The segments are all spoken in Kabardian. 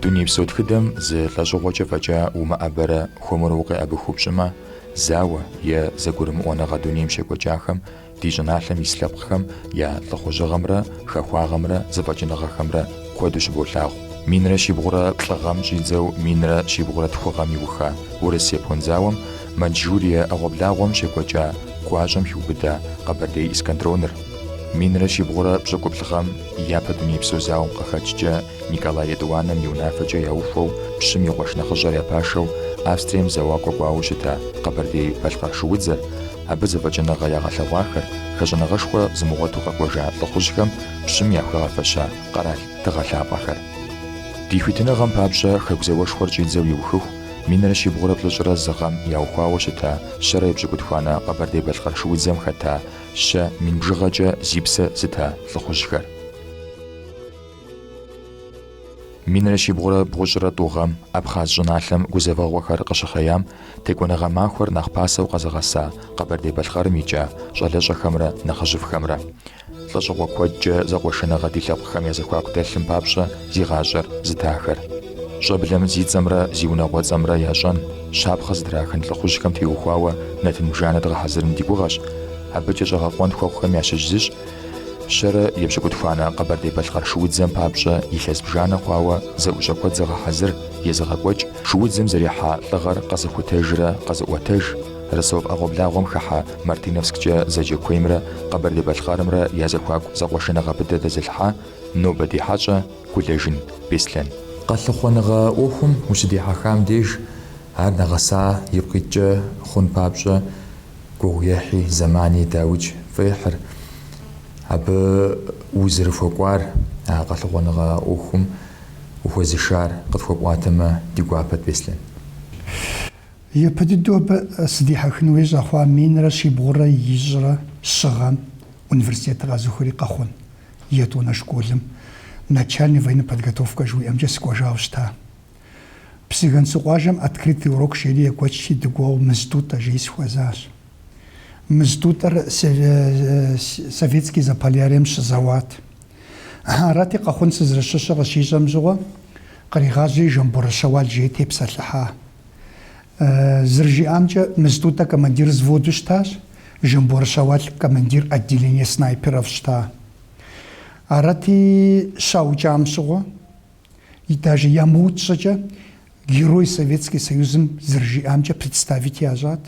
Дунейпсо тхыдэм зы лӏэщӏыгъуэкӏэ фӏэкӏа умыӏэбэрэ хуэмурэ укъеӏэбыхыу пщӏымэ, зауэ е зэгурымыӏуэныгъэ дунейм щекӏуэкӏахэм ди щӏыналъэм ис лъэпкъхэм я лӏыхъужьыгъэмрэ хэхуагъэмрэ зэфӏэкӏыныгъэхэмрэ куэду щыболъагъу. Минрэ щибгъурэ плӏы гъэм щӏидзэу минрэ щибгъурэ тху гъэм иуха Урыс-Япон зауэм Маньчжурие ӏэгъуэблагъуэм щекӏуэкӏа гуащӏэм хиубыда Къэбэрдей эскадроныр, минрэ щибгъурэ пщӏыкӏуплӏ гъэм Япэ дунейпсо зауэм къыхэкӏкӏэ Николай етӏуанэм и унафэкӏэ яухуэу, пщым и къуэш нэхъыжьыр я пашэу Австрием зэуакӏуэ кӏуауэ щыта Къэбэрдей-Балъкъэр шыудзэр, абы зэфӏэкӏыныгъэ ягъэлъэгъуахэр, хэщӏыныгъэшхуэ зымыгъуэту къэкӏуэжа лӏыхъужьхэм пщым яхуигъэфэща къэрал тыгъэ лъапӏэхэр. Ди хуитыныгъэм папщӏэ Хэку зауэшхуэр щӏидзэу иухыху, минрэ щибгъурэ плӏыщӏрэ зы гъэм яухуауэ щыта Щэрэ епщыкӏутхуанэ Къэбэрдей-Балъкъэр шыудзэм хэта Щэ мин бжыгъэкӏэ зи псэ зыта лӏыхъужьхэр. Минрэ щибгъурэ бгъущӏрэ тӏу гъэм Абхъаз щӏыналъэм гузэвэгъуэхэр къыщыхъеям, Текӏуэныгъэ махуэр нэхъ пасэу къэзыгъэса Къэбэрдей-Балъкъэрым икӏа щӏалэщӏэхэмрэ нэхъыжьыфӏхэмрэ. Лӏэщӏыгъуэ куэдкӏэ зэкъуэшыныгъэ ди лъэпкъхэм я зэхуаку дэлъым папщӏэ зи гъащӏэр зытахэр. Щӏэблэм зи цӏэмрэ зи унагъуэцӏэмрэ ящӏэн, щапхъэ зытрахын лӏыхъужьхэм теухуауэ нэтын бжанэ дгъэхьэзырын ди гугъэщ. Абыкӏэ щӏэгъэкъуэн хуэхъухэм ящыщ зыщ Щэрэ епщыкӏутхуанэ Къэбэрдей-Балъкъэр шуудзэм папщӏэ илъэс бжанэ хъуауэ зэӏущӏэ куэд зыгъэхьэзыр, езыгъэкӏуэкӏ, шуудзэм зэрихьа лӏыгъэр къэзыхутэжрэ къэзыӏуэтэж, Ростов ӏэгъуэблагъуэм хыхьэ Мартыновсккӏэ зэджэ куеймрэ Къэбэрдей-Балъкъэрымрэ я зэхуаку зэкъуэшыныгъэ быдэ дэзылъхьа нобэ ди хьэщӏэ, Гулэжын Беслъэн. Къэлъыхъуэныгъэ ӏуэхум ущыдихьэхам деж ар нэгъэса ипкъ иткӏэ хъун папщӏэ гугъуехьи, зэмани дауикӏ пфӏехьыр. Абы узэрыхуэкӏуар, а къэлъыхъуэныгъэ ӏуэхум ухуэзышар къытхуэпӏуатэмэ ди гуапэт, Беслъэн. Япэ дыдэу абы сыдихьэхын хуей щӏэхъуа минрэ щибгъурэ ищӏрэ щы гъэм университетыр къэзухри Къэхъун етӏуанэ школым начальный военной подготовкэ жыхуиӏэмкӏэ сыкӏуэжауэ щыта. Псыгэнсу къуажэм открытый урок жери екӏуэкӏти, дыкӏуауэ Мыз Тӏутӏэ жиӏи сыхуэзащ. Мыз Тӏутӏэр Советский Заполярьем щызэуат. Арати, Къэхъун сызэрыщыщыр къыщищӏэм щыгъуэ, къригъажьэри Жамборэ Щэуал жиӏи тепсэлъыхьа. Зэрыжиӏамкӏэ, Мыз Тӏутӏэ командир взводу щытащ, Жамборэ Щэуал командир отделение снайперов щыта. Арати, щаукӏам щыгъуэ, даже ямыукӏ щӏыкӏэ, Герой Советский Союзым зэрыжиӏамкӏэ представить ящӏат.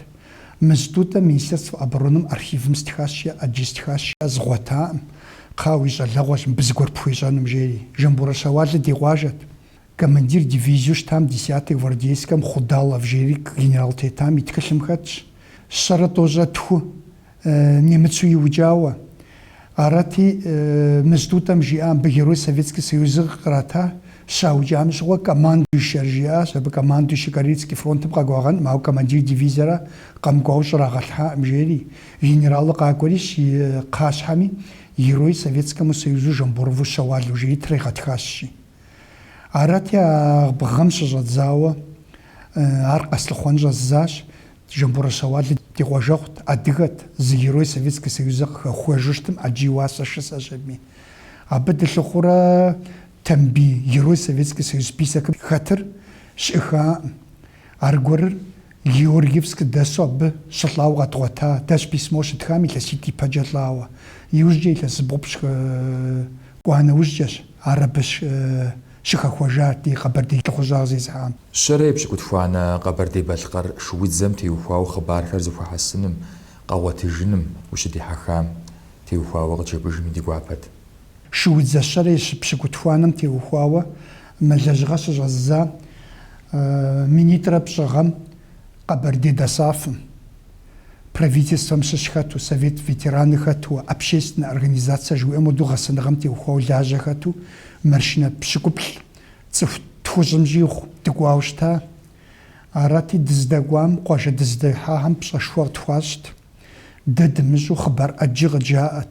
Мыз Тӏутӏэ Министерство обороным архивым стхащ, жи, ӏэджи стхащ, жи, згъуэтакъым, кхъа, уи щӏалэгъуэщ мыбы зыгуэр пхуещӏэнум, жери. Жамборэ Щэуалыр ди къуажэт. Командир дивизиеу щытам десятой гвардейскэм Худалов жери генерал тетам и тхылъым хэтщ. Щэрэ тӏощӏэ тху немыцу иукӏауэ. Арати, Мыз Тӏутӏэм жиӏа мыбы Герой Советский Союзыр кърата, щаукӏам щыгъуэ командующэр жиӏащ, абы командующэ Карельский фронтым къэкӏуагъэнкъым, ауэ командир дивизиер къэмыкӏуауэ щӏрагъэлъхьакъым, жери. Генералыр къакӏуэри и кхъащхьэми, Герой Советскому Союзу Жамборову Щэуалу жери тригъэтхащ, жи. Арати, а бгъэм щыщӏэдзауэ ар къэслъыхъуэн щӏэздзащ. Жамборэ Щэуалыр ди къуажэгъут, адыгэт, зы герой Советскэ Союзыр къыхэхуэжу щытым ӏэджи уасэ шысэщыми. Абы дылъыхъурэ Тамбий, герой Советскэ Союз списокым хэтыр щыӏыхаӏым. Аргуэрыр Георгиевск дэсу абы щылӏауэ къэдгъуэта, дэщ письмо щыттхам илъэситӏ ипэкӏэ лӏауэ. Иужькӏэ илъэс зыбгъупщӏ кӏуа нэужькӏэщ ар абы щыхэхуэжар ди къэбэрдей лӏыхъужьыгъэ зезыхьам. Щэрэ епщыкӏутхуанэ Къэбэрдей-Балъкъэр шуудзэм теухуауэ хъыбархэр зыхуэхьэсыным, къэгъуэтыжыным ущыдихьэхам теухуауэ къыджепӏэжми ди гуапэт. Шуудзэ щэрэ епщыкӏутхуанэм теухуауэ мы лэжьыгъэр щыщӏэздза минитӏрэ пщӏы гъэм Къэбэрдей ДОСААФ-м, Правительствэм щыщ хэту, Совет ветераны хэту, общественнэ организацэ жыхуиӏэм хуэдэу гъэсэныгъэм теухуауэ лажьэ хэту маршынэ пщыкӏуплӏ цӏыху тхущӏым щӏигъу дыкӏуауэ щыта. Арати, дыздэкӏуам, къуажэ дызыдыхьахэм пщӏэшхуэ къытхуащӏт. Дэ дымыщӏу хъыбар ӏэджи къыджаӏэт.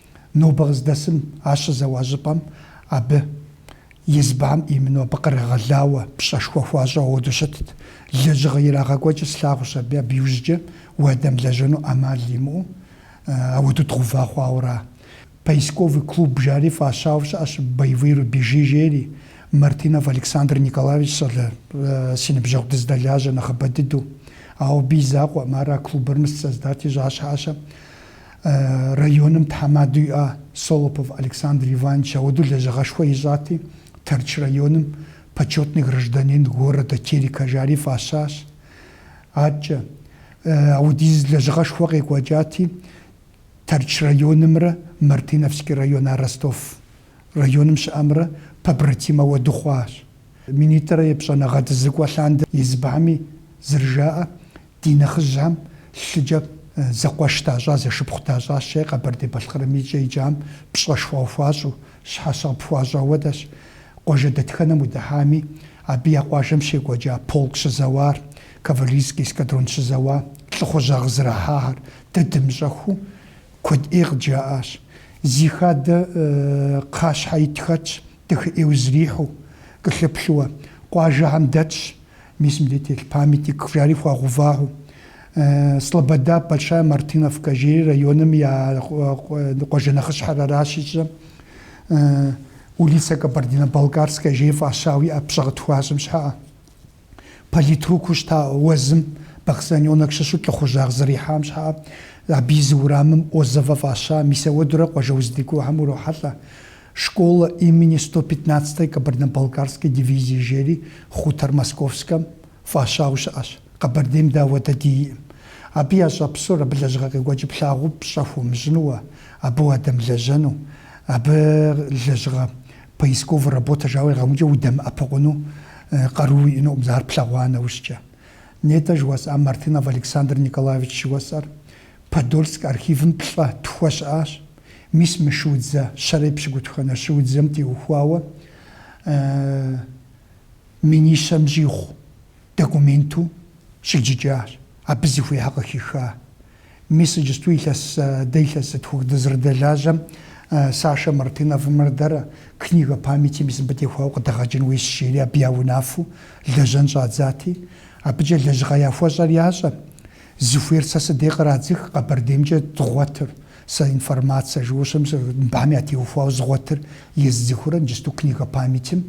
Нобэ къыздэсым ар щызэуа щӏыпӏэм абы избан имыну абы кърагъэлауэ пщӏэшхуэ хуащӏэ ауэду щытт. Лэжьыгъэ ирагъэкӏуэкӏыр слъагъущ абы, абы иужькӏэ уадэмылэжьэну ӏэмал имыӏэу ауэду дгъува хъуауэ ара. Поисковый клуб жари фӏащауэ щыӏэщ Боевые рубежи жери. Мартынов Александр Николаевич щӏалэ си ныбжьэгъу дыздэлажьэ нэхъыбэ дыдэу. Ауэ абы и закъуэкъым, ар а клубыр мис создать ищӏа щхьэкӏэ. Районым тхьэмадэу иӏа Солопов Александр Иванович ауэду лэжьыгъэшхуэ ищӏати, Тэрч районым Почетный гражданин города Терека жари фӏащащ. Аткӏэ, аудиз лэжьыгъэшхуэ къекӏуэкӏати, Тэрч районымрэ Мартыновский район, а Ростов районым щыӏэмрэ побратимэу дыхъуащ. Минитӏрэ епщӏанэ гъэм дызыкӏуэ лъандэ избгьэми, зэрыжаӏэ, Ди нэхъыжьхэм лъыкӏэ зэкъуэш дащӏа, зэшыпхъу дащӏащи Къэбэрдей-Балъкъэрым икӏэ икӏам пщӏэшхуэ къыхуащӏу, щхьэщэ къыпхуащӏ, ауэдэщ. Къуажэ дэтхэнэм удыхьами, абы я къуажэм щекӏуэкӏа полк щызэуар, кавалерийский эскадрон щызэуа, лӏыхъужьагъ зэрахьахэр, дэ дымыщӏэхэу, куэд ӏей къыджаӏащ. Зи хадэ кхъащхьэ ит хэтщ, дахэ ӏейуэ зэрихьэу, кӏэлъыплъыуэ, къуажэхэм дэтщ, Мис мыбдеж телъ памятник жари хуагъэувахэу Слобода, Большая Мартыновка, жери районым я къуажэ нэхъыщхьэр аращ ищӏэ. Улица Кабардино-Балкарская жери фӏащауэ иӏэ пщӏэ къытхуащӏым щхьэӏэ. Политрукыу щыта Уэзым Баксаненок щыщу лӏыхъужьагъ зэрихьам щхьэӏэ. Абы и зы урамым Озова фӏаща. Мис ауэдурэ къуажэ уздэкӏуэхэм урохьэлӏэ. Школа имени сто пятнадцатой Кабардино-Балкарской дивизии жери хъутэр Московскэм фӏащауэ щыӏэщ, Къэбэрдейм дэ ауэдэ диӏэкъым. Абы ящӏэ псор абы лэжьыгъэ къекӏуэкӏыр плъагъуу пщӏэ хуумыщӏынуэ, абы уадэмылэжьэну, абы лэжьыгъэ поисковый работэ жауэ игъэмыкӏыу удэмыӏэпыкъуну къару уиӏэнукъым, зэ ар плъэгъуа нэужькӏэ. Нетӏэ жыуэсӏам Мартынов Александр Николаевич жыуэсӏэр, Подольск архивым плӏэ тхуэ щыӏащ, мис мы шуудзэ щэрэ епщыкӏутхуанэ шуудзэм теухуауэ минищэм щӏигъу документу щӏиджыкӏащ, абы зыхуейхэр къыхиха. Мис иджысту илъэс, дэ илъэс зытхух дызэрыдэлажьэм Сашэ Мартыновымрэ дэрэ Книга памяти мис мыбы теухуауэ къыдэгъэкӏын хуейщ, жери абы я унафэу лэжьэн щӏадзати, абыкӏэ лэжьыгъэ яхуэщӏэр ящӏэ, Зыхуейр сэ сыдей къырадзых Къэбэрдеймкӏэ згъуэтыр, сэ информацэ жыуэ щым сэ мыбам ятеухуауэ згъуэтыр ездзыхыурэ иджысту книга памятим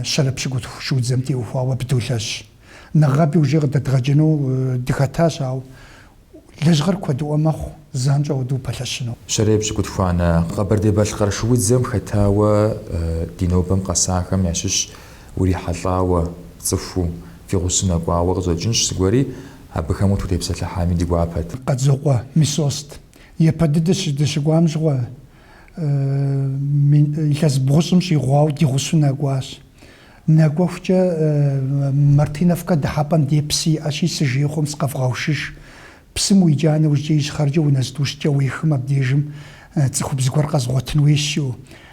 щэрэ пщыкӏутху шыудзэм теухуауэ абы долэжь. Нэгъаби уже къыдэдгъэкӏыну дыхэтащ, ауэ лэжьыгъэр куэдыӏуэ мэхъу занщӏэу ауэду упэлъэщыну. Щэрэ епщыкӏутхуанэ Къэбэрдей-Балъкъэр шыудзэм хэтауэ ди нобэм къэсахэм ящыщщ. Урихьэлӏауэ, цӏыхуу, фи гъусу нэкӏуауэ къыщӏэкӏынщ зыгуэри, абыхэм утутепсэлъыхьами ди гуапэт. Къэдзокъуэ Мисост. Япэ дыдэ дыщыкӏуам щыгъуэ илъэс бгъущӏым щӏигъуауэ ди гъусу нэкӏуащ. Нэкӏуэхукӏэ Мартыновкэ дыхьэпӏэм дей псы иӏэщи, сыжейхъуэм сыкъэвгъэушыж. Псым уиджа нэужькӏэ ищхъэркӏэ унэ зытӏущкӏэ уехым абдежым цӏыхубз гуэр къэзгъуэтын хуейщ.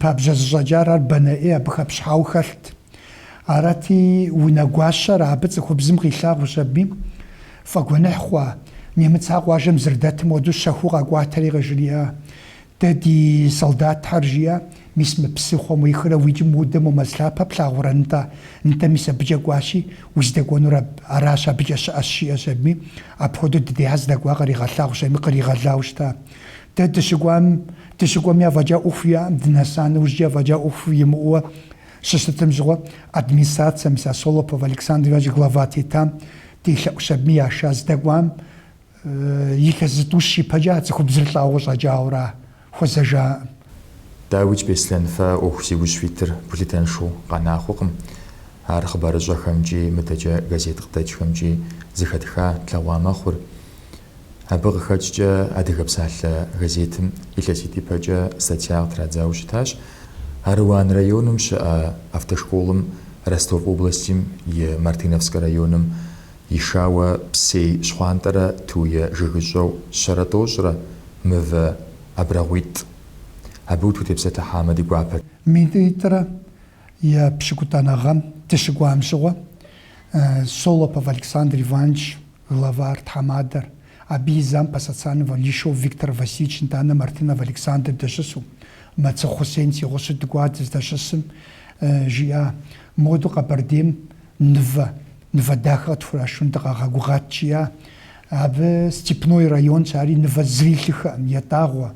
Пабжьэ зыщӏэкӏар ар банэ ӏей абы хэпщхьауэ хэлът. Арати, унэгуащэр абы цӏыхубзым къилъагъущ аби, фӏэгуэныхь хъуа, немыцэ къуажэм зырдэтым хуэдэу щэхуу къэкӏуатэри къыжриӏа, Дэ ди солдатхэр, жиӏэ, мис мы псыхъуэм уихрэ уикӏым удэ мо мэз лъапэ плъагъурэ, нтӏэ? Нтӏэ, мис абыкӏэ кӏуащи, уздэкӏуэнур аращ, абыкӏэ щыӏэщ, жиӏэщ аби, апхуэдэу дыдейхэ здэкӏуа къыригъэлъагъущ аби, къыригъэлауэ щыта. Дэ дыщыкӏуам, дыщыкӏуэми афӏэкӏа ӏуэху иӏэм дынэса нэужькӏи афӏэкӏа ӏуэху имыӏэуэ щыщытым щыгъуэ администрация, мис а Солопов Александр Иванович глава тетам, делъэӏущ абыми яша здэкӏуам илъэс зытӏущ ипэкӏэ а цӏыхубзыр лӏауэ къыщӏэкӏауэра хуэзэжаӏым. Дауикӏ Беслъэн, фэ а ӏуэху зи ужь фитыр гулъытэншэу къэнахъуэкъым. Ар хъыбарыщӏэхэмкӏи, мыдэкӏэ газет къыдэкӏхэмкӏи зыхэтха тлъэгъуа мэхъур. Абы къыхэкӏкӏэ Адыгэ псалъэ газетым илъэситӏ ипэкӏэ статья къытрадзауэ щытащ. Аруан районым щыӏэ автошколым Ростов областим и Мартыновскэ районым ишауэ псей щхъуантӏэрэ туе жыгыщӏэу щэрэ тӏощӏрэ мывэ абрагъуитӏ. Абы утутепсэлъыхьамэ ди гуапэт. Минитӏрэ и пщыкӏутӏанэ гъэм дыщыкӏуам щыгъуэ Солопов Александр Иванович, Главар, тхьэмадэр, абы и зам Посоцанова Лишов Виктор Васильевич, нтӏанэ Мартынов Александр дэщысу, Мэцыхъу Хъусен си гъусу дыкӏуат, дыздэщысым, жиӏа. Моду Къэбэрдейм нывэ, нывэ дахэ къытхурашун дыкъагъэгугъат, жиӏа. Абы Степной районщ, ари нывэ зыри илъыхэӏым, етӏагъуэ.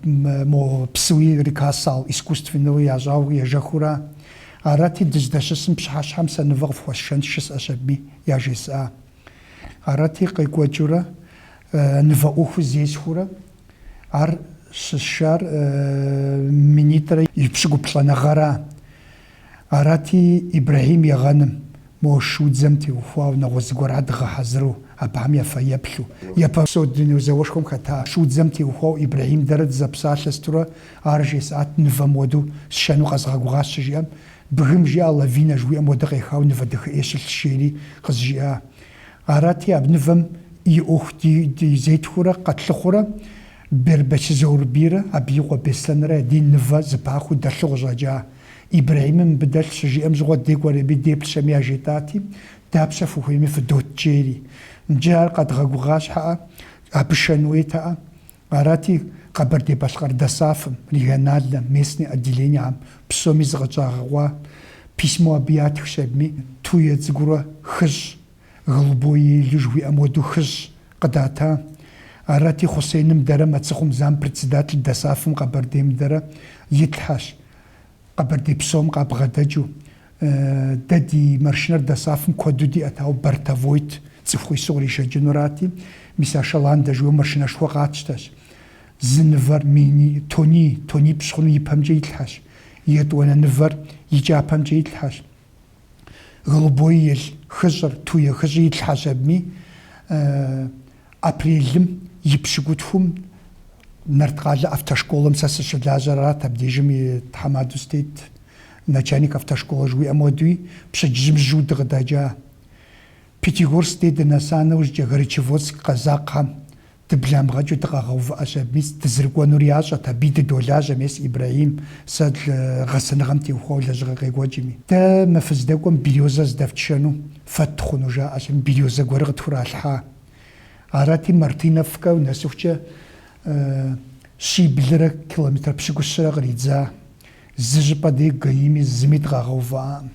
мо псыуи река Сал, искусственэу ящӏауэ ежэхыурэ, арати, дыздэщысым пщыхьэщхьэм сэ нывэ къыфхуэсшэн жысӏэщ абыми, яжесӏа. Арати, къекӏуэкӏыурэ, нывэ ӏуэхур зесхыурэ, ар щысшар минитӏрэ и пщыкӏуплӏанэ гъэра. Арати, Ибрэхьим Егъэным, мо шудзэм теухуауэ, нэгъуэщӏ зыгуэр ар дгъэхьэзыру, абыхэм я фэеплъу, япэ псо дуней зауэшхуэм хэта шудзэм теухуауэ Ибрэхьим дэрэ дызэпсалъэ сытурэ ар жесӏат, Нывэ моду сшэну къэзгъэгугъащ, щыжиӏэм, бгым жиӏа лавинэ жыхуиӏэм уэдэ къехауэ нывэ дахэӏей щылъщ, жери къызжиӏа. Арати, абы нывэм и ӏуэху ди зетхурэ къэтлъыхъурэ Бербэч Заурбийрэ абы и къуэ Беслъэнрэ я ди нывэ зыпахыу дэлъу къыщӏэкӏа. Ибрэхьимым мыбы дэлъ щыжиӏэм щыгъуэ декӏуэ ри абы деплъщ абыми яжетӏати, Дапщэ фыхуейми фыдот, жери. Нджы ар къэдгъэгугъа щхьэӏэ, абы шэн уетэӏэ. Арати, Къэбэрдей-Балъкъэр ДОСААФ-м, региональнэ, местный, отделениехьэм псоми зыкъыщӏагъэкъуа письмо абы ятхщ абыми, Туе цӏыкӏурэ хыщӏ. Голубой ель жыхуиӏэм уэду хыщӏ къыдата. Арати, Хъусеным дэрэ Мэцыхъум зампредседатель ДОСААФ-м Къэбэрдейм дэрэ итлъхьэщ. Къэбэрдей псом къабгъэдэкӏыу. Дэ ди маршынэр ДОСААФ-м куэду диӏэт, ауэ бортовойт, цӏыху ису къришэкӏынурати, мис а шаландэ жиӏэу маршынэшхуэ къатщтэщ. Зы нывэр мини, тони, тонипщӏ хъуну ипэмкӏэ итлъхьэщ. Етӏуанэ нывэр и кӏапэмкӏэ итлъхьэщ. Голубой ель хыщӏыр, туе хыщӏи итлъхьэщ абыми. Апрелым и пщыкӏутхум Нарткъалэ автошколэм сэ сыщылажьэрат, абдежым и тхьэмадэу сытет, начальник автошколэ жыхуиӏэм уэдуи, пщэдджыжьым жьыу дыкъыдэкӏа. Пятигорск дей дынэса нэужькӏэ, Горячеводск къэзакъхьэм Дыбламгъэкӏыу дыкъагъэувыӏэщ абыми, дызрыкӏуэнур ящӏэт, абы дыдолажьэ, мес Ибрэхьим, сэ гъэсэныгъэм теухуауэ лэжьыгъэ къекӏуэкӏми. Дэ мы фыздэкӏуэм березэ здэфшэну фэтт хъуну, жаӏэщ абыми, березэ гуэрыр къытхуралъхьа. Арати, Мартыновкэ нэсыхукӏэ щиблрэ километрэ пщыкӏущрэ къридза. Зы щӏыпӏэ дей ГАИ-ми зыми дыкъагъэувыӏакъым.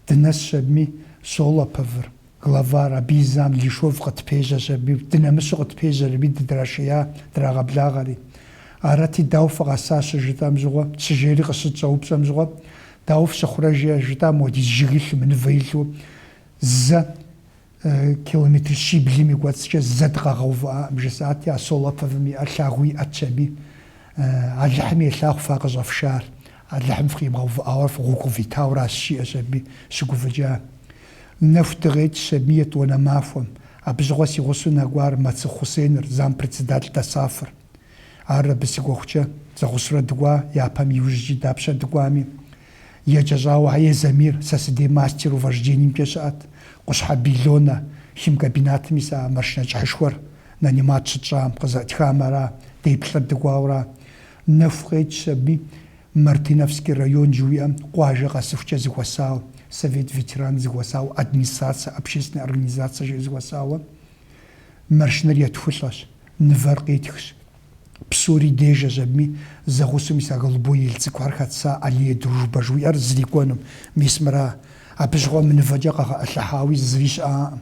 Дынэсщ абыми, Солоповыр. Главар, Абы и зам Лишов къытпежьэщ аби, дынэмысу къытпежьэри, абы дыдрашея, драгъэблагъэри. Арати, дауэ фыкъэса щыжытӏэм щыгъуэ, щыжери къыщытщӏэупщӏэм щыгъуэ, Дауэ фщыхъурэ? жиӏэ, жытӏам уэдиз жыг илъу, мы нывэ илъу, зэ километр щиблым и кӏуэцӏкӏэ зэ дыкъагъэувыӏакъым, жысӏати, а Солоповым и ӏэр лъагэу иӏэтщ аби. Алыхьым елъагъу фэ къыщӏэфшар. Алыхьым фыкъимыгъэувыӏауэ фи гъуэгу къывитауращ, жиӏэщ аби щыгуфӏыкӏа. Нэху дыкъекӏщ аби етӏуанэ махуэм. Абы щыгъуэ си гъусэу нэкӏуар Мэцыхъу Хъусеныр, зампредседатель ДОСААФ-р. Ар абы сыкӏуэхукӏэ, зэгъусэурэ дыкӏуа, япэм иужькӏи дапщэ дыкӏуами. Еджэщӏауэ Хьэе Замир сэ сыдей мастеру вождениемкӏэ щыӏэт, Къущхьэ Бильонэ, химкомбинатым мис а машинэ кӏыхьышхуэр, нанимат щытщӏам, къызыӏытхам ара, дэ плӏыр дыкӏуауэра. Нэху къекӏщ аби Мартыновский район жыуиӏэм къуажэ къэсыхукӏэ зыхуэсауэ, Совет ветеран зыхуэсауэ, администрация, общественная организация жиӏэу зыхуэсауэ. Маршынэр етхулӏэщ, нывэр къетхщ. Псори дежэщ абыми, зэгъусэу мис а голубой ель цӏыкӏухэр хэтса Аллея дружбы жыуиӏэр зрикӏуэнум. Мис мыра? Абы щыгъуэ мы нывэкӏэ къэгъэӏылъыхьауи зыри щыӏакъым.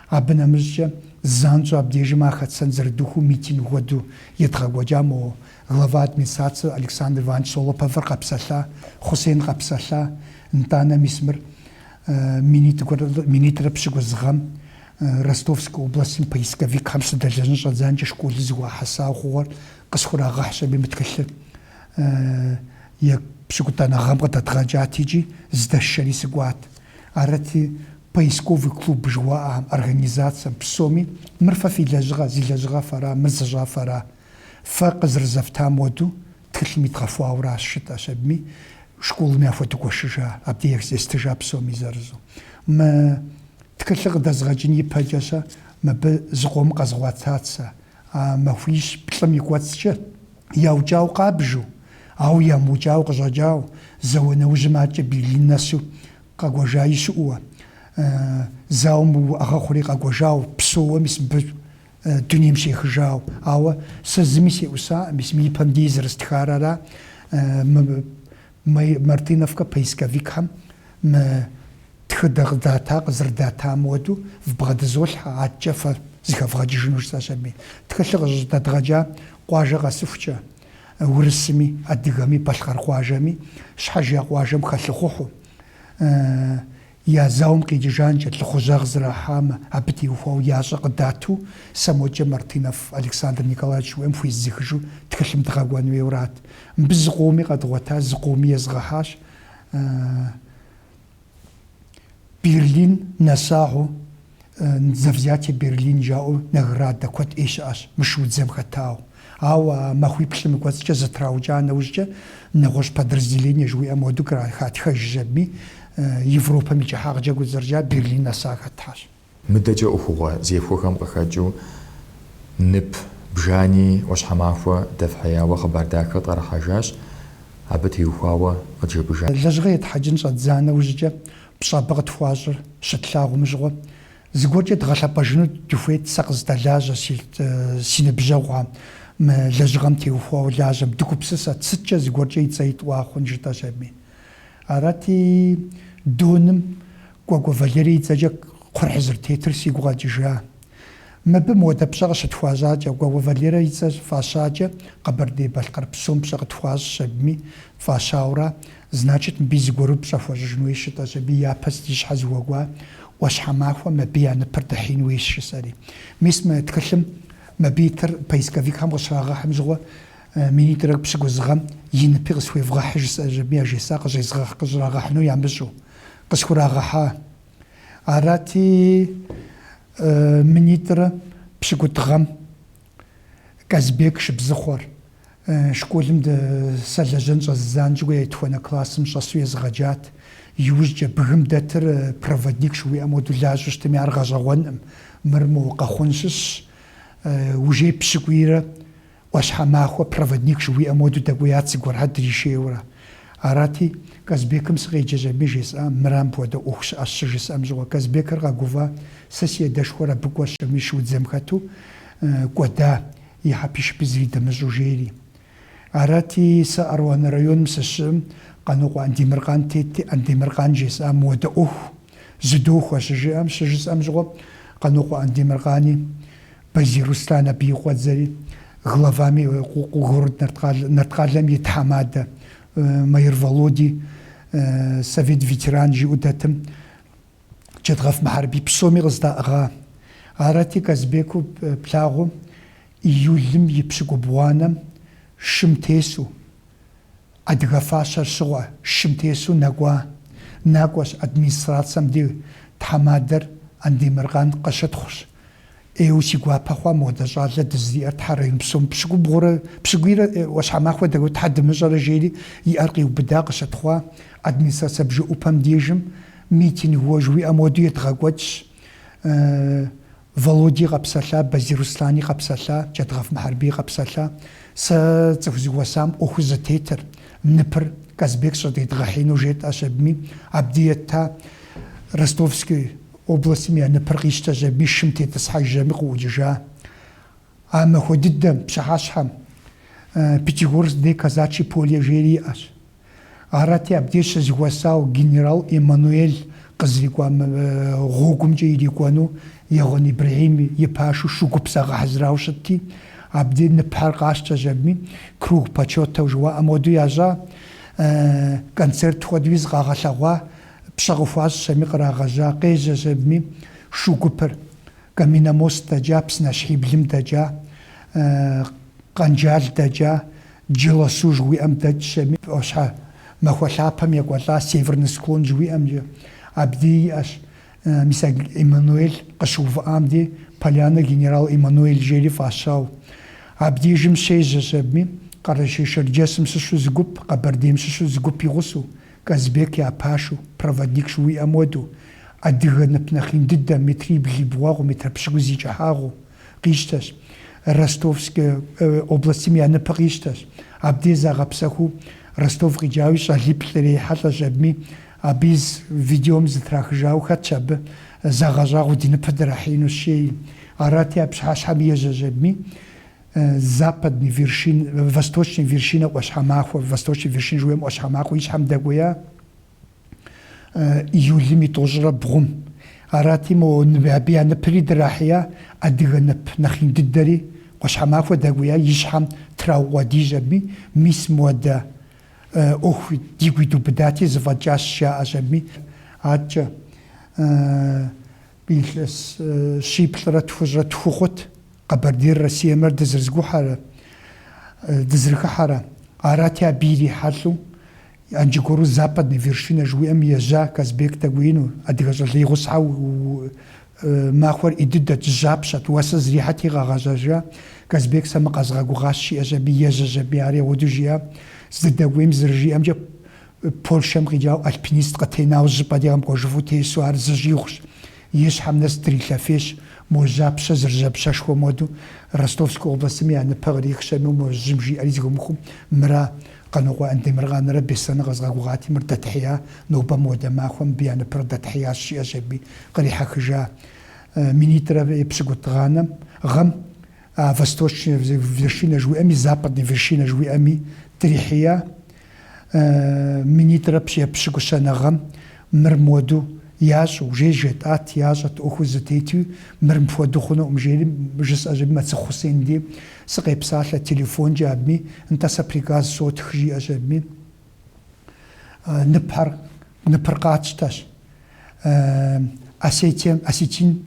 Абы нэмыщӏкӏэ занщӏэу абдежым ар хэтсэн зэрыдухыу митинг хуэдэу едгъэкӏуэкӏа мо глава администрации Александр Иванович Солоповыр къэпсэлъа, Хъусейн къэпсэлъа, нтӏанэ мис мыр минитӏрэ пщыкӏуз гъэм Ростовскэ областым поисковикхэм сыдэлэжьын щӏэдзанкӏэ школым зыхуахьэса ӏуэхугъуэр къысхурагъэхьщ абыи мы тхылъыр епщыкӏутӏанэ гъэм къыдэдгъэкӏат икӏи здэшэри сыкӏуат. Арати, Поисковый клуб жыуаӏэ организацэм псоми, Мыр фэ фи лэжьыгъэ, зи лэжьыгъэ фэра, мыр зыщӏа фэра? Фэ къызэрызэфтам уэду, тхылъым идгъэхуауэ аращ жытӏэщ абыми, школым яхуэдгуэшыжа, абди естыжа псоми зырызу. Мы тхылъыр къыдэзгъэкӏын ипэкӏэ-щэ, мыбы зыкъом къэзгъуэта цӏэ, А махуищ-плӏым и кӏуэцӏкӏэ яукӏауэ къабжу, ауэ ямыукӏауэ къыщӏэкӏауэ, зауэ нэужьым адэкӏэ Берлин нэсу къэкӏуэжаи щыӏэуэ, зауэм уӏэгъэ хъури къэкӏуэжауэ, псоуэ мис мыбы дунейм щехыжауэ. Ауэ сэ зыми сеӏусакъым, мис мы ипэм дей зэрыстхар ара, мы Мы Мартыновкэ поисковикхэм мы тхыдэ къыдата къызэрыдатам уэду вбгъэдызолъхьэ, адэкӏэ фэ зыхэвгъэкӏыжыну жысӏэщ абыи. Тхылъыр къыщӏыдэдгъэкӏа къуажэ къэсыхукӏэ, урысми, адыгэми, балъкъэр къуажэми, щхьэж я къуажэм хэлъыхъухьу, Я зауэм къикӏыжанкӏэ лӏыхъужьыгъэ зэрахьамэ, абы теухуауэ ящӏэ къыдату, сэ мокӏэ Мартынов Александр Николаевич жыуиӏэм хуезгъэхьыжу тхылъым дгъэкӏуэн уейуэ арат. Мыбы зыкъоми къэдгъуэта, зыкъоми езгъэхьащ. Берлин нэсахэу За взятие Берлин жаӏэу наградэ куэд ӏей щыӏэщ мы шуудзэм хэтауэ. Ауэ а махуиплӏым и кӏуэцӏкӏэ зэтраукӏа нэужькӏэ нэгъуэщӏ подразделение жыуиӏэм хуэдэу кърахатхэжщ абыи, Европэм и кӏыхьагъкӏэ гузэрджа Берлин нэса хэтхэщ. Мыдэкӏэ ӏуэхугъуэ зехуэхэм къыхэкӏыу нып бжани Ӏуащхьэмахуэ дэфхьеяуэ хъыбар дахэ къытӏэрыхьэжащ, абы теухуауэ къыджепӏэжат. Лэжьыгъэ етхьэкӏын щӏэддза нэужькӏэ Пщӏабэ къытхуащӏыр щытлъагъум щыгъуэ, зыгуэркӏэ дгъэлъэпӏэжыну дыхуейт сэ къыздэлажьэ си си ныбжьэгъухэм, мы лэжьыгъэм теухуауэ лажьэм. Дыгупсысэт, сыткӏэ зыгуэркӏэ и цӏэ итӏуа хъун жытӏэщ абыи. Арати, Доным Кӏуэкӏуэ Валерий и цӏэкӏэ кхъухьыр зэрытетыр сигу къэкӏыжа. Мыбы модэ пщӏэ къыщытхуащӏакӏэ, Кӏуэкӏуэ Валерэ и цӏэр фӏащакӏэ, Къэбэрдей-Балъкъэр псом пщӏэ къытхуащӏщ абыми фӏащауэра, значит, мыбыи зыгуэру пщӏэ хуэщӏыжын хуейщ, жытӏэщ абыи япэ си щхьэ зыхуэкӏуа Ӏуащхьэмахуэм, абы я ныпыр дэхьеин хуейщ, жысӏэри. Мис мы тхылъым мыбы итыр поисковикхэм къыщрагъэхьым щыгъуэ, минитӏрэ пщыкӏуз гъэм и ныпи къысхуевгъэхьы, жысӏэщ абы яжесӏа къыщӏезгъэхь-къыщӏрагъэхьыну ямыщӏэу. Къысхурагъэхьа Арати, минитӏрэ пщыкӏутӏ гъэм Казбек Шыбзыхъуэр, школым де сылэжьэн щӏэздза нэужькӏэ етхуанэ классым щӏэсу езыгъэджат. Иужькӏэ, бгым дэтыр проводник жыхуиӏэм уэду лажьэу щытми, ар гъэщӏэгъуэнкъым, мыр мо Къэхъун щыщу, жей, пщыкӏуийрэ ӏуащхьэмахуэ проводник жыхуиӏэм уэду дэкӏуеят зыгуэрхьэр дришейуэрэ. Арати, Казбекым сыкъеджэщ абы жесӏа, мыра, мыпхуэдэ ӏуэху щыӏэщ щыжысӏэм щыгъуэ. Казбекыр къэгуфӏа, сэ си адэшхуэр абы кӏуэщ абми шуудзэм хэту кӏуэда, и хьэпишыпи зыри дымыщӏэу жейри. Арати, сэ Аруан районым сыщыӏым, Къанокъуэ Андемыркъан тетти, Андемыркъан жесӏа мыхуэдэ ӏуэху зыдохуэ щыжиӏэм щыжысӏэм щыгъуэ Къанокъуэ Андемыркъани, Базий Руслан абы и къуэдзэри, главами город Нарткъалэм и тхьэмадэ Маир Володи, совет ветеран жиӏэу дэтым, Джэдгъэф Мыхьэрбий псоми къыздаӏыгъа. Арати, Казбеку плъагъуу, июлым и пщыкӏубгъуанэм шым тесу, Адыгэ фащэр щыгъыу шым тесу нэкӏуа накӏуэщ администрацэм ди тхьэмадэр Андемыркъан къыщытхъущ. ӏейуэ си гуапэ хъуа мыхуэдэ щӏалэ дызэриӏэр Тхьэ район псом пщыкӏубгъурэ пщыкӏуийрэ ӏуащхьэмахуэ дэкӏуэу Тхьэ дымыщӏэрэ жери и ӏэр къиубыда къыщытхъуа администрацэ бжыӏупэм дежым митингыу жыуиӏэм уэду едгъэкӏуэкӏщ Володи къэпсэлъа, Базий Руслани къэпсэлъа, Джэдгъэф Мыхьэрбий къэпсэлъа, сэ цӏыху зыхуэсам ӏуэхур зытетыр, ныпыр Казбек щӏыдедгъэхьеину жетӏэщ абми, абди етта, Ростовской областми я ныпыр къищтэщ, абми шым тетӏысхьэжщ абми къыӏукӏыжа. А махуэ дыдэм, пщыхьэщхьэм, Пятигорск де казачьи поле жери иӏэщ. Арати, абдеж щызыхуэсау генерал Эммануэль къызрикӏуа гъуэгумкӏэ ирикӏуэну Егъуэн Ибрэхьим и пашэу шу гуп загъэхьэзырауэ щытти, абдеж ныпхьэр къащтэщ абми, круг почета-у жыуаӏэм хуэдэу ящӏа, концерт хуэдэуи зыкъагъэлъэгъуа, пщӏэ къыхуащӏщ абми кърагъэжьа, къежьэщ абми шу гупыр. Каменномост дэкӏа, Псынащхьиблым дэкӏа, Къанджал дэкӏа, Джылэсу жыхуиӏэм дэкӏщ абми, ӏуащхьэмахуэ лъапэм екӏуэлӏа Северный склон жыхуиӏэмкӏэ, абди иӏэщ, мис а Эммануэль къыщыувыӏам де Поляна генерал Эммануэль жери фӏащау. Абдежым щежьэщ абыми, Къэрэшей-Шэрджэсым щыщу зы гуп, Къэбэрдейм щыщу зы гуп игъусэу, Казбек я пашу, проводник жыуиӏэм уэду, адыгэ нып нэхъ ин дыдэ, метрибл и бгъуагъыу, метр пщыкӏуз и кӏыхьагъыу, къищтэщ. Ростовскэ областым я ныпыр къищтэщ. Абдей загъэпсэхуу Ростов къикӏауи, щӏалиплӏ ирехьэлӏэщ абыми, абы из видеом зытрахыжауэ хэтщ абы загъэщӏагъуэ ди ныпыр дырахьеину жеи. Арати, а пщыхьэщхьэм ежьэщ абыми, Западный вершин, Восточный вершина ӏуащхьэмахуэ, Восточный вершин жыуиӏэм ӏуащхьэмахуэ и щхьэм дэкӏуея июлым и тӏощӏрэ бгъум. Арати, мо абы я ныпри драхьея адыгэ нып нэхъ ин дыдэри, ӏуащхьэмахуэ дэкӏуея и щхьэм траукъуэдийщ абыми, мис моуэдэ ӏуэху дигу идубыдати, зыфӏэкӏащ, жаӏэщ абыми. Аткӏэ Илъэс щиплӏрэ тхущӏрэ тху хъут Къэбэрдейр Россиемрэ дызрызгухьэрэ, дызрыхыхьэрэ. Арати, абы ирихьэлӏэу иджы аргуэру Западная вершина жыхуиӏэм ежьа Казбек дэкӏуеину, адыгэ щӏалэ и гъусэхьэу, махуэр ӏей дыдэт, жьапщэт, уэсыр зрихьэти къагъэзэжа. Казбек сэ мыр къэзгъэгугъащ, жиӏэщ аби, ежьэщ аби, ар егъуэду жиӏэ, здыдэкӏуейм зэрыжиӏэмкӏэ, Польшэм къикӏауэ альпинист къытенауэ зыщӏыпӏэ дей къэмыкӏуэжыфу тесу ар зыщӏигъущ. И щхьэм нэс дрилъэфейщ. Мо жьапщэ зэрыжьапщэшхуэм хуэдэу, Ростовскэ областым я ныпэ кърихщэну мо жьым жиӏэри зыхыумыхыу, мыра, Къанокъуэ Андемыркъанрэ Беслъэнрэ къэзгъэгугъати, мыр дэтхьея, нобэ моуэдэ махуэ мыбы я ныпыр дэтхьеящ, жиӏэщ аби кърихьэхыжа минитӏрэ епщыкӏутӏуанэм, гъэм. А восточная вершина жыуиӏэми, западная вершина жыуиӏэми дрихьея. Минитӏрэ пщӏ епщыкӏущанэ гъэм мыр моду ящӏэ, уже жетӏат, ящӏэт, ӏуэхур зытету, мыр мыпхуэду хъунукъым, жери жысӏэщ аби, Мэцыхъу Хъусен дей сыкъепсалъэ телефонкӏэ абыми, нтӏэ сэ приказ сотх, жиӏэщ абыми. Ныпхьэр, ныпыр къатщтэщ Осетием, Осетин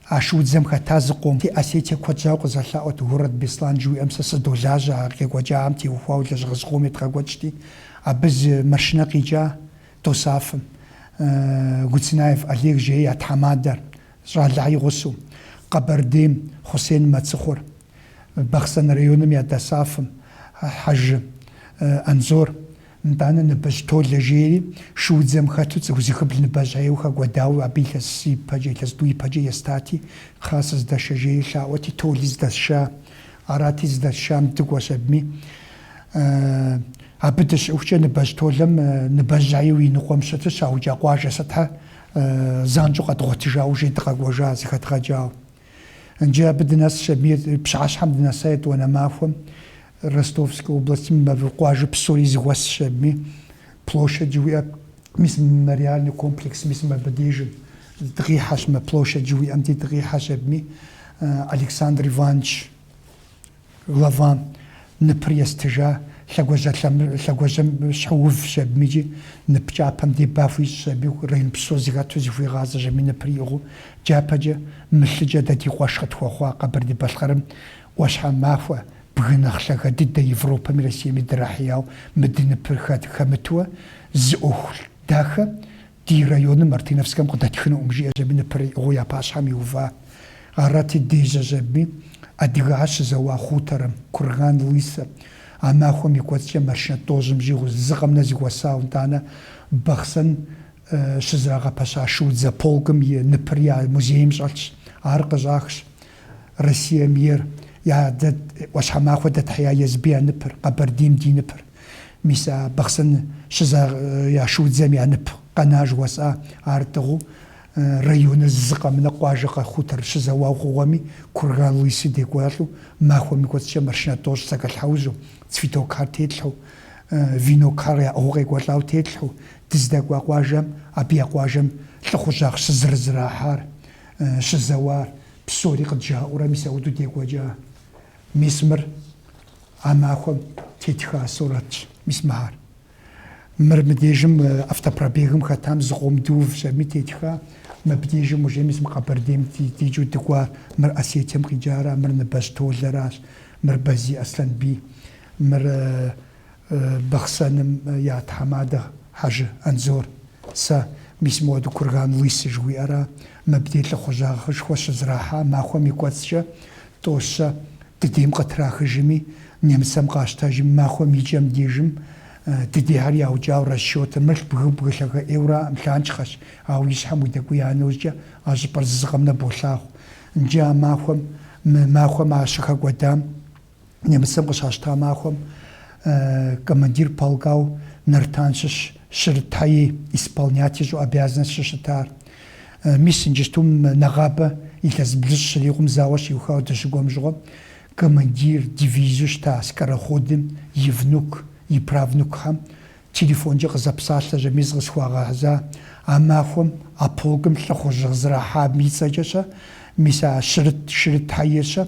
А шуудзэм хэта зыкъом, фи Осетие куэд щӏауэ къызэлъаӏуэт Город Беслан жыуиӏэм сэ сыдолажьэ, ар къекӏуэкӏахэм теухуауэ лэжьыгъэ зыкъом едгъэкӏуэкӏти, абы зы машинэ къикӏа Досафым, Гуцынаев Олег жеи я тхьэмадэр, щӏалэхьи гъусэу, Къэбэрдейм, Хъусен Мэцыхъур, Бахъсэн районым я Досафым, Хьэжы Анзор, Нтӏанэ Ныбэжь Толэ жери, шуудзэм хэту цӏыху зыхыбл Ныбэжь Аеу хэкӏуэдауэ, абы илъэс ипэкӏэ, илъэс тӏу ипэкӏэ естати, Кхъа сыздэшэ жери лъаӏуэти, Толи здэсша, арати, здэсшам дыкӏуэщ абыми. Абы дыщыӏэхукӏэ Ныбэжь Толэм Ныбэжь Аеу и ныкъуэм щыту щаукӏа къуажэ сытхьэ занщӏэу къэдгъуэтыжауэ жей дыкъэкӏуэжа, зыхэдгъэкӏауэ. Иджы абы дынэсщ абыми, пщыхьэщхьэм дынэса етӏуанэ махуэм. Ростовскэ областым и къуажэ псори зыхуэсщ абыми. Площадь жыхуиӏэр мис мемориальный комплекс мис мыбы дежым дыкъихьэщ, мы площадь жыхуиӏэм де дыкъихьэщ абыми. Александр Иванович глава ныпыр естыжа лъэгуажьэмыщхьэу увщ абыми икӏи нып кӏапэм де ба хуищӏщ аби район псо зыхэту зыхуигъазэщ абыми ныпыр иӏыгъыу. Дяпэкӏэ мы лъыкӏэ дэ ди къуэш къытхуэхъуа Къэбэрдей-Балъкъэрым ӏуащхьэмахуэ, бгы нэхъ лъагэ дыдэ Европэми Россиеми дырахьеяу мы ди ныпыр хэт хэмытуэ, зы ӏуэху дахэ ди районым, Мартыновскэм, къыдэтхынукъым, жиӏэщ абы ныпыр иӏыгъыу я пащхьэм иува. Арати, дежьэщ абыми, адыгэхэр щызэуа хуторым, Курган Лысэ. А махуэм и кӏуэцӏкӏэ маршынэ тӏощӏым щӏигъу зы къэмынэ зыхуэсауэ, нтӏанэ Бахъсэн щызэрагъэпэща шуудзэ полкым и ныпыр я музейм щӏэлъщ. Ар къыщӏахщ Россием ейр, а ӏуащхьэмахуэ дэтхьея езыбы я ныпыр, Къэбэрдейм ди ныпыр. Мис а Бахъсэн щызэ я шуудзэм я нып къэна жыхуэсӏа, ар тӏыгъыу районыр зы къэмынэ къуажэ къэ хутор щызэуауэ хъугъуэми, Курган Лысы декӏуэлӏу, махуэм и кӏуэцӏкӏэ машинэ тӏощӏ зэкӏэлъхьэужьу, цветокхэр тетлъхьэу, венокхэр яӏыгъыу къекӏуэлӏауэ тетлъхьэу, дыздэкӏуа къуажэм, абы я къуажэм лӏыхъужьагъ щызэрызэрахьар. щызэуар, псори къыджаӏэурэ мис ауэдэу декӏуэкӏа. Мис мыр а махуэм тетха сурэтщ, мис мыхьэр. Мыр мыдежым автопробегым хэтам зы къом дыувщ абыми тетха. Мыбдежым уже мис мы Къэбэрдейм дикӏыу дыкӏуар, мыр Осетием къикӏара, мыр Ныбэщ Толэращ, мыр Базий Аслъэнбий, мыр Бахъсэным я тхьэмадэ Хьэжы Анзор, сэ, мис мыуэду Курган Лысы жыхуиӏэра, мыбдей лӏыхъужьагъышхуэ щызэрахьа махуэм и кӏуэцӏкӏэ тӏэу-щэ, дыдейм къытрахыжыми, немыцэм къащтэжым, махуэм и кӏэм дежым дыдейхэр яукӏауэ расчетыр, мыр бгы бгы лъагэ ӏейуэ аракъым, лъанчхъэщ, ауэ и щхьэм удэкӏуия нэужькӏэ а щӏыпӏэр зы зы къэмынэ болъагъу. Иджы а махуэм, мы махуэм ар щыхэкӏуэдам. Немыцэм къыщащта махуэм командир полкау Нартан щыщ Шырыт Хьэи, исполнять ищӏу обязанность щыщытар. Мис иджыстум нэгъабэ илъэс блыщӏ щрикъум зауэ щиухауэ дыщыкӏуэм щыгъуэм, командир дивизэу щыта Скороходым и внук, и правнукхэм телефонкӏэ къызэпсалъэщи, мис къысхуагъэхьыжа а махуэм а полкым лӏыхъужьыгъэ зэрахьам и цӏэкӏэщэ, мис а Шырыт, Шырыт Хьэирщэ,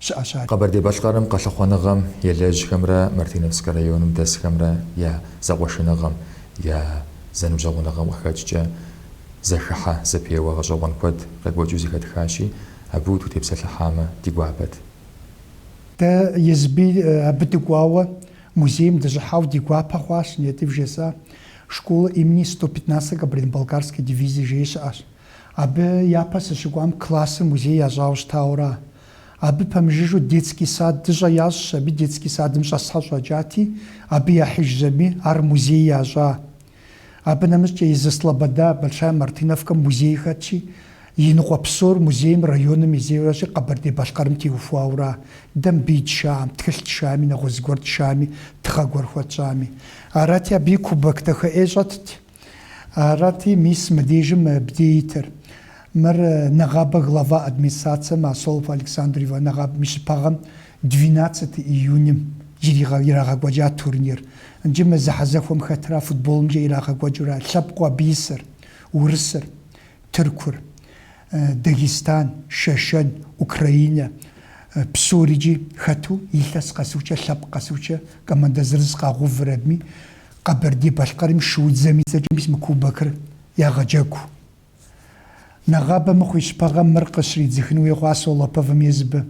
щыӏэщ ар. Къэбэрдей-Балъкъэрым къэлъыхъуэныгъэм елэжьхэмрэ Мартиновскэ районым дэсхэмрэ я зэкъуэшыныгъэм, я зэныбжьэгъуныгъэм къыхэкӏкӏэ зэхыхьэ зэпеуэ гъэщӏэгъуэн куэд къекӏуэкӏыу зэхэтхащи, абы утутепсэлъыхьамэ ди гуапэт. Дэ езыби абы дыкӏуауэ музейм дыщӏыхьау ди гуапэ хъуащ, Нетӏи вжесӏа, Школа имени сто пятнадцатой Кабардино-Балкарской дивизии жеи щыӏэщ. Абы япэ сыщыкӏуам классыр музей ящӏауэ щытауэ ара, Абы пэмыжыжу детский садыщӏэ ящӏщ, абы детский садым щӏэсхэр щӏэкӏати, абы яхьыжщ абыми, ар музей ящӏа. Абы нэмыщӏкӏэ езы Слобода, Большая Мартыновкэм музей хэтщи, и ныкъуэ псор музейм районым и зейуэщи Къэбэрдей-Балъкъэрым теухуауэра, дэ мыбы итшам, тхылъ тшами, нэгъуэщӏ зыгуэр тшами, тыгъэ гуэр хуэтщӏами. Арати, абыи кубок дахэ ӏей щӏэтт. Арати, мис мыдежым мыбдей итыр. Мыр нэгъабэ глава администрацэм а Солопов Александр Иваныч нэгъабэм и щыпагъэм двенадцать июньым иригъэ ирагъэкӏуэкӏа турнир. Нджы мы зэхьэзэхуэм хэтра футболымкӏэ ирагъэкӏуэкӏыурэ лъэпкъыу абы исыр, урысыр, тыркур, Дагестан, Шэшэн, Украинэ, псорикӏи хэту, илъэс къэсыхукӏэ, лъэпкъ къэсыхукӏэ командэ зырыз къагъэувыр абыми, Къэбэрдей-Балъкъэрым шуудзэм и цӏэкӏэ мис мы кубокыр ягъэджэгу. Нэгъабэ мыхъу и щыпагъэм мыр къыщридзыхын хуей хъуа Солоповым езыбы.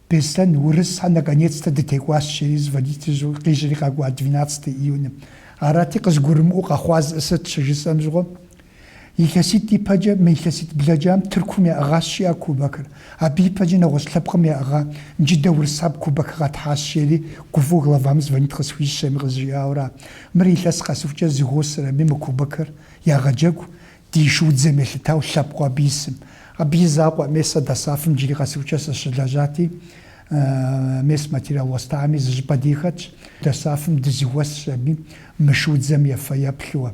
Беслъэн, урысхэр, наконец-то дытекӏуащ, жери звонит къищӏри къакӏуа двенадцатый июньым. Арати, къызгурымыӏуэу къэхъуар сыт щыжысӏэм щыгъуэ, Илъэситӏ ипэкӏэ мы илъэситӏ блэкӏам Тыркум яӏыгъащ жи а кубокыр. Абы ипэкӏэ нэгъуэщӏ лъэпкъым яӏыгъа джы дэ урысаб кубок къэтхьащ, жери гуфӏэу главам звонит къысхуищӏщ абыми къызжиӏауэра. Мыр илъэс къэсыхукӏэ зэхуосыр абыми мы кубокыр ягъэджэгу ди шуудзэм елъытау лъэпкъыу абы исым. Абы и закъуэ мес ДОСААФ-ым джыри къэсыхукӏэ сыщылэжьати, мес материал уэстами, зы щӏыпӏэ дей хэтщ. ДОСААФ-ым дызэхуэсщ аби мы шуудзэм и фэеплъу.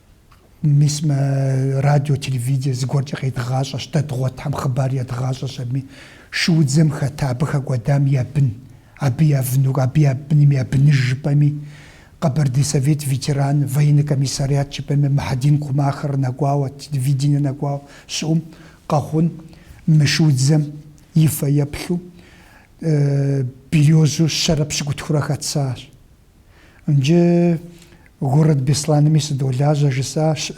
Мис мы радио, телевидение зыгуэркӏэ къедгъащӏэщ, дэ дгъуэтхэм хъыбар едгъащӏэщ абыми. Шуудзэм хэта абы хэкӏуэдам я бын, абы я внук, абы я быным я быныж жыпӏэми, Къэбэрдей совет ветеран, военный комиссариат жыпӏэми, Мухьэдин Кумахыр нэкӏуауэ, телевидение нэкӏуауэ щыӏэу, мы, Къэхъун, мы шуудзэм и фэеплъу, березэу щэрэ пщыкӏутхурэ хэтсащ. Нджы город Беслъаными сыдолажьэ, жысӏащ,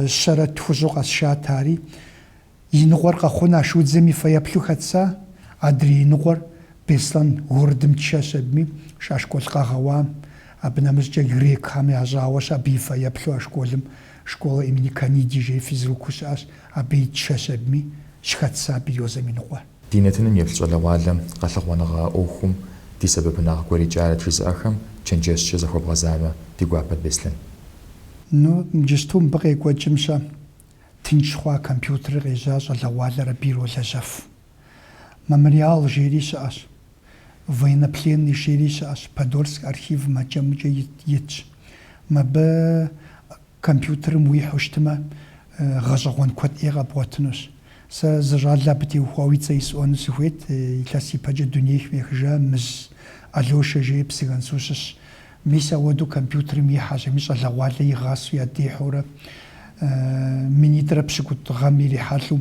щэрэ тхущӏу къэсшат ари. И ныкъуэр Къэхъун а шуудзэм и фэеплъу хэтса, адрей и ныкъуэр, Беслъан городым тшэщ абыми, а школ къагъэуам. Абы нэмыщӏкӏэ грекхэм ящӏауэщ абы и фэеплъу а школым, школа имени Каниди жей физруку щыӏащ, абыи тшэщ абыми, щыхэтса березэм и ныкъуэр. Ди нэтыным еплъ щӏалэгъуалэм къэлъыхъуэныгъэ ӏуэхум ди сэбэпынагъ гуэр екӏарэт жызыӏэхэм чэнджэщкӏэ захуэбгъэзамэ, ди гуапэт Беслъэн. Ну, иджысту мыбы къекӏуэкӏым-щэ, тынш хъуа компьютерыр къежьа щӏалэгъуалэр абы иролэжьэф. Мемориал жери щыӏэщ, военнопленный жери щыӏэщ, Подольск архивым ӏэкӏэмыкӏэ итщ. Мыбы Компьютерым уихьу щытмэ, гъэщӏэгъуэн куэд ӏей къэбгъуэтынущ. Сэ зы щӏалэ абы теухуауэ и цӏэ исӏуэну сыхуейт, илъэс ипэкӏэ дунейм ехыжа Мыз Алёшэ жери Псыгуэнсу щыщщ. Мис ауэдэу компьютерым ихьэщ, ами щӏалэгъуалэ игъасэу ядихьэурэ, минитӏрэ пщыкӏутӏ гъэм ирихьэлӏэу,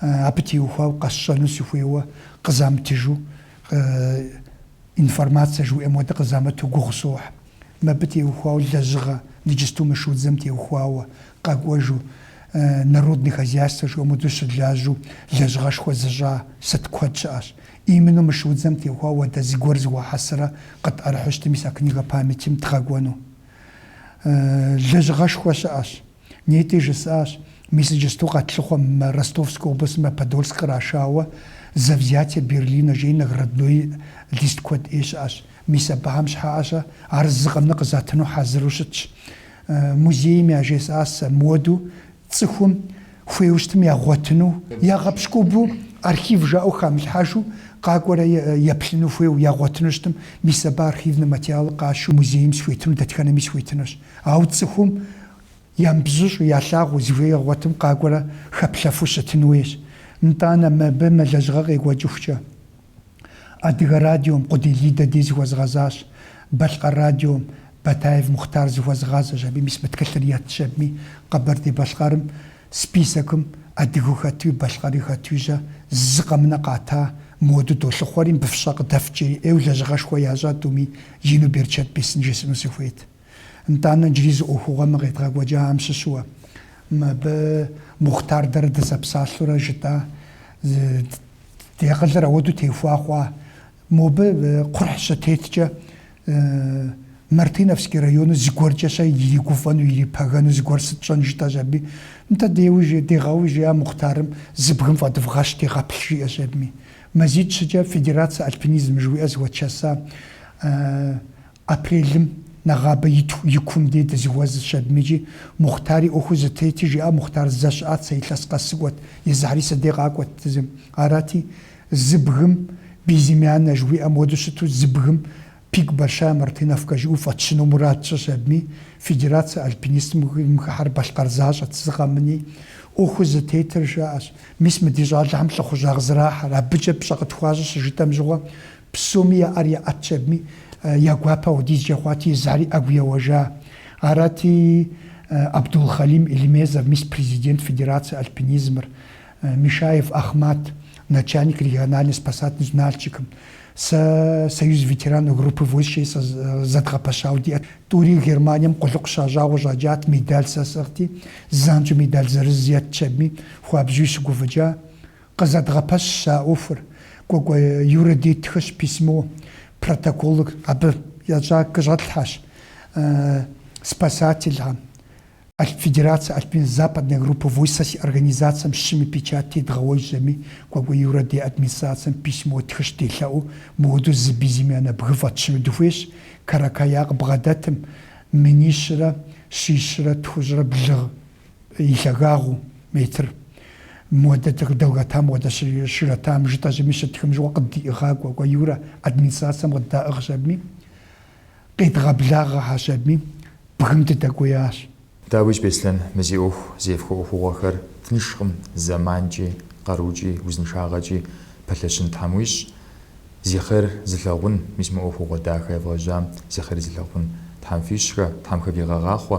Абы теухуау къэсщӏэну сыхуейуэ къызамытыжу, информацэ жыуӏем хуэдэ къызамыту гугъу сохь. Мыбы теухуау лэжьыгъэ, ныджысту мы шудзэм теухуауэ, къэкӏуэжу, народный хозяйство жыӏэм хуэдэу щылажьэу лэжьыгъэшхуэ зыщӏа сыт куэд щыӏэщ. Именно мы шудзэм теухуауэ уэдэ зыгуэр зэхуахьэсрэ къытӏэрыхьэу щытым мис а книга памятим дгъэкӏуэну. Лэжьыгъэшхуэ щыӏэщ. Нетӏи жысӏащ, мис иджысту къэтлъыхъуэм мы Ростовскэ областым мо Подольск кърашауэ За взятие Берлина жеи наградной лист куэд ӏей щыӏэщ. Мис абыхэм щхьэкӏэ-щэ ар зы къэмынэ къызатыну хьэзыру щытщ. Музейм яжесӏа сэ мыуэду цӏыхум хуейуэ щытым ягъуэтыну, ягъэпщкӏупэу архив жаӏэу хамылъхьэжу къакӏуэрэ еплъыну хуейуэ ягъуэтыну щытым, мис абы архивнэ материалы къащу музейм схуетыну, дэтхэнэми схуетынущ. Ау цӏыхум ямыбзыщӏу ялъагъуу зыхуейр ягъуэтым къакӏуэрэ хэплъэфу щытын хуейщ. Нтӏанэ, мыбы мы лэжьыгъэр къекӏуэкӏыхукӏэ, Адыгэ радиом Къудей Лидэ дей зыхуэзгъэзащ, Балъкъэр радиом Батаев Мухътар зыхуэзгъазэщ, абы мис мы тхылъыр етщ, абыми Къэбэрдей-Балъкъэрым списокым адыгэу хэтуи, балъкъэри хэтуи-щэ, зы къэмынэ къата, мыуэду долъыхъуэри, мыбы фщӏэ къыдэфт жери ӏейуэ лэжьыгъэшхуэ ящӏа тӏуми ину берычэт бесын жесӏэну сыхуейт. Нтӏанэ джыри зы ӏуэхугъуэ мы къедгъэкӏуэкӏахэм щыщуэ. Мыбы Мухътар дэрэ дызэпсалъурэ жытӏа ди акъылыр ауэду техуа хъуа? Мобы кхъухь щытеткӏэ, Мартыновский районыр зыгуэркӏэ-щэ иригуфӏэну, ирипэгэну зыгуэр сыт тщӏэн жытӏащ аби. Нтӏэ, деуэ, жи, дегъауэ, жи Мухътарым, зы бгым фӏэдывгъэщ, дегъэплъ, жиӏэщ абыми. Мазитӏ-щыкӏэ федерацэ альпинизм жыхуиӏэ зыхуэдгъэза Апрелым нэгъабэ и кум дей дызыхуэзыщ абымиджи, Мухътари ӏуэхур зытетыр жиӏа Мухътар зэ щыӏат, сэ илъэс къэс сыкӏуэт, езыхэри си дей къакӏуэт езым. Арати, зы бгым безымяннэ жыхуиӏэм хуэдэу щыту зы бгым пик большая мартыновка жыӏэу фӏэтщыну мурад тщӏыщ абыми, федерацэ альпинизмым хыхьэр балъкъэр защӏэт зы къэмыни, ӏуэхур зытетыр жаӏэщ. Мис мы ди щӏалэхэм лӏыхъужьагъ зэрахьэр, абыкӏэ пщӏэ къытхуащӏыр щыжытӏэм щыгъуэ, Псоми я ӏэр яӏэтщ абыми, я гуапэ ахуэдизкӏэ хъуати, езыхэри ӏэгу еуэжа. Арати, Абдулхалим Эльмезов, мис президент Федерацэ альпинизмыр, Мишаев Ахъмат, начальник региональнэ спасательнэ Нальчикым, сэ Союз ветеранов группы войск къызэдгъэпэщауэ диӏэт. Тӏури Германием къулыкъу щащӏауэ щӏэкӏат, медаль сэ сӏыгъти, занщӏэу медаль зырыз еттщ абыми, хуабжьуи щыгуфӏыкӏа. Къызэдгъэпэщщ а ӏуэхур Кӏуэкӏуэ Юрэ дей ттхыщ письмо протоколыр абы ящӏа къыщӏэтлъхьэщ спасательхэм, Федерацэ альпинизм Западной группы войск си организацэм щыми печать тедгъэуэжщ абыми, Кӏуэкӏуэ Юрэ дей администрацэм письмо ттхыщ делъэӏуу, мыуэду зы безымяннэ бгы фӏэтщыну дыхуейщ, Каракая къыбгъэдэтым, минищрэ щищрэ тхущӏрэ блырэ. и лъагагъыу метр модэ долгота модэ широтам жытӏэщ абыми щыттхым щыгъуэ къыддиӏыгъа Кӏуэкӏуэ Юрэ администрацэм къыддаӏыгъщ абыми къедгъэблагъэхэщ абыми бгым дыдэкӏуеящ. Дауич Беслъэн, мы зи ӏуэху зефхуэ ӏуэхугъуэхэр тыншкъым, зэманкӏи, къарукӏи, узыншагъэкӏи пэлъэщын Тхьэм уищӏ, зи хъер зылъагъун, мис мы ӏуэхугъуэ дахэ евгъэжьам зи хъери зылъагъун Тхьэм фищӏхэ, Тхьэм хэвигъэгъахъуэ,